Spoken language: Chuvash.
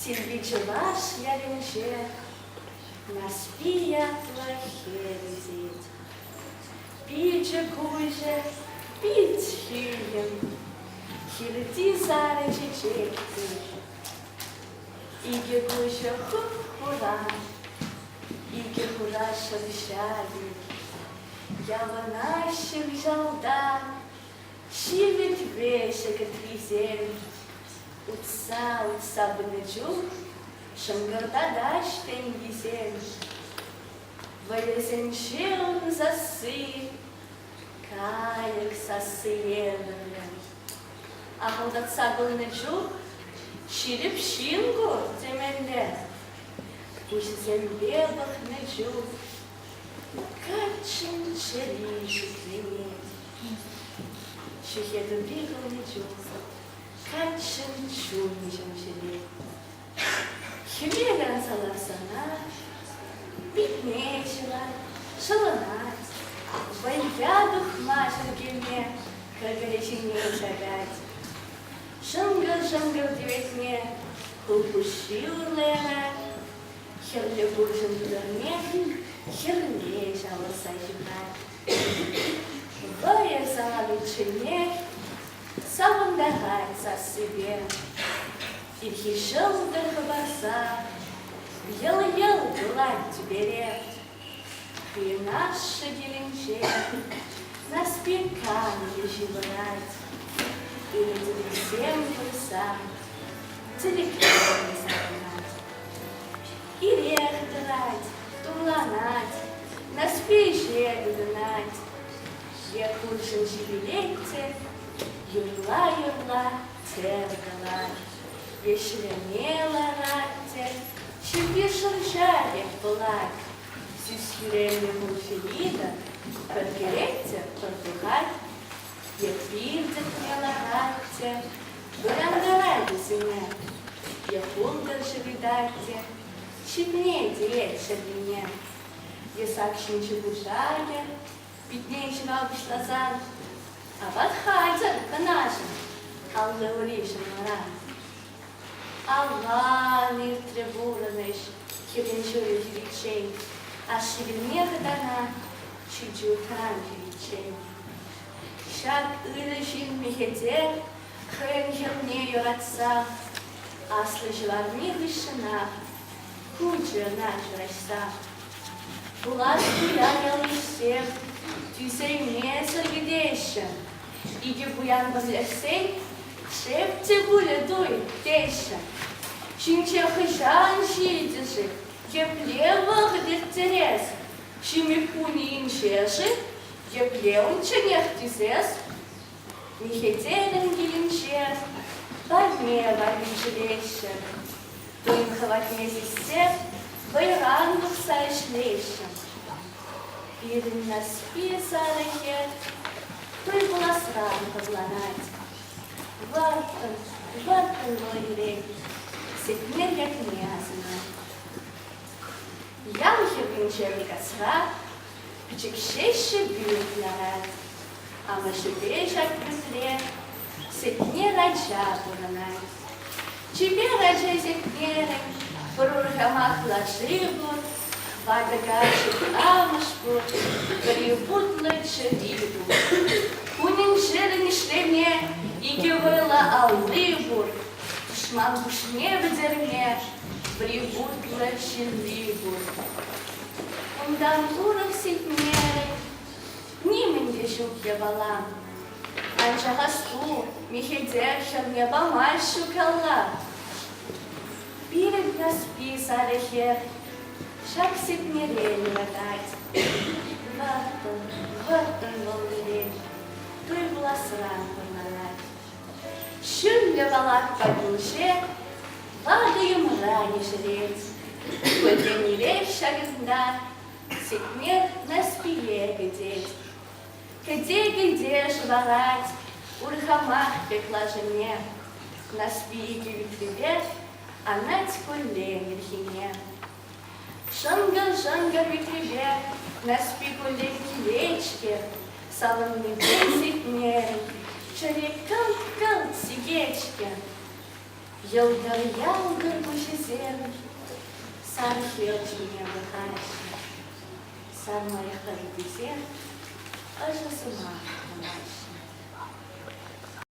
Сирпи чӑваш ялӗнче Нарспи ятлӑ хӗл ӳсет. Пичӗ-куҫӗ пит ҫийӗм, Хирти сарӑ чечектей. Икӗ куҫӗ хуп-хура, Икӗ хура шӑрҫа пек. Явӑнаҫҫӗ кӑҫалта Ҫивӗтре ҫӗкӗтрисем утса-утса пынӑ чух шӑнкӑртатаҫ тенкисем. Вӑйӑсенче ун сасси кайӑк сассине ӗмӗрне ахӑлтатса пӑхнӑ чух ҫирӗп ҫын ку темелле. Куҫӗсемпе пӑхнӑ чух каччӑн чӗри шикленет. Ҫӗхетӗври хӑйне чухсӑр, каччӑн чунӗ ҫемҫелет. Хӗвел анса ларсана питне ҫӑлать, ҫӑлӑнать, вӑййа тухма чӗркеме кӗркӗре ҫине шакать. Шӑнкӑр-шӑнкӑр тӗветне хулпуҫҫи урлӑянать, хӗрлӗ пурҫӑн тутӑрне хӗрле ҫавӑрса ҫыхать. Хӑйӑр сахаличченех савӑнтарать сассипе. Ирхи ҫӑлтӑр хӑпарса йӑл-йӑл кулать тӳпере. Юнашши килӗнче Наспеканье ҫывӑрать. Ӳрӗтӗвӗсем курса тӗлӗкрен сарӑлать. ирех тӑнать, турланать, Наҫпи ӗҫе тытӑнать. Е хуршӑн ҫивӗлет те юрла-юрла тер кӑлать, Е ҫӗлеме ларать те ҫӳпи шӑрҫа пек пӑлать. Сӳс-хӳреллӗ хурҫӑ-литӑ пӗркелет те пӗр тухать, Е пир тӗпне ларать те Вӑрантарать вӗсене. Е хунтӑр ҫӑвитать те, ҫитме тиет ҫӗррине. Е сак ҫинчи пушаркӗ питне ҫӑва пуҫласан, апат хатӗр кӑначӑн аллӑришӗн вара. Аван иртрӗ пурӑнӑҫ хирӗн ҫулӗ хириччен, ашшӗ вилне хӑтана ҫичӳ тӑран хириччен. Ҫак ырӑ ҫын мехетех хӑйӗн хӗрне юратса аслӑ ҫӑварни хыҫҫӑнах хучӗ ӑна ҫураҫса. Пулас пуян ялйышсем тӳсеймесӗр кӗтеҫҫӗ. Икӗ пуян пӗрлешсен шеп те пулӗ туй теҫҫӗ. Ҫинҫе хӑҫан ҫитӗ-ши? Епле вӑхӑт ирттерес? Ҫими хунинче-ши? Епле унчченех тесес? Михетелӗн килӗнче парне валли ҫӳреҫҫӗ. Тин хӑватне сиссе вӑйран тухса ӗҫлеҫҫӗ. Пирӗн Наҫпи сарӑхӗ хӑй пуласран хӑтланать. Вӑрттӑн, вӑрттӑн вӑл илет, сехме ятне асӑнать. Ял хӗрринче Микасра пӗчӗк ҫеҫчӗ пӳрт ларать. Амӑшӗпе ҫак пӳртре Сетне ача пурӑнать. Чипер ача Сетнерӗн пӗр урхамахла шыв пур, ватӑ каччӑн амӑш пур, пӗри хутлӑ чӗри пур. Кунӗн-ҫӗрӗн ӗҫлеме икӗ вӑйлӑ алли пур. Тӑшман пуҫне пӗтерме Бригуттла ҫынни пур. Унтан урӑх ситмерӗн. Нимӗн те ҫук япала. Анчах аҫу, мехелсем ҫӑвне памаҫҫӗ калла. Пирӗн каспи сарӗ хӗр. Ҫак ситмерен выртать. Вӑрттӑн, вӑрттӑн вӑл пире туй пуласран пӑрланать. Ҫӳллӗ палатка пулчӗ, ватӑ йӑмра ешерет. Пӗтӗмле ҫакӑнта сикмет Наспие кӗтет. Кӗте-кӗте шӑварать урхамах пек лашине. Наспи кивиттипе анать куллен ирхине. Шӑнкӑр-шӑнкӑр витрепе Наҫпи куллен килет-ҫке, савӑннипе ситне чӗре кӑлт-кӑлт сикет-ҫке. Йӑлтӑр-ялтӑр пуҫӗсем сан хӗл ҫине пӑхаҫҫӗ, сан лайӑхлатуписем ӑшӑ сӑмах калаҫҫӗ.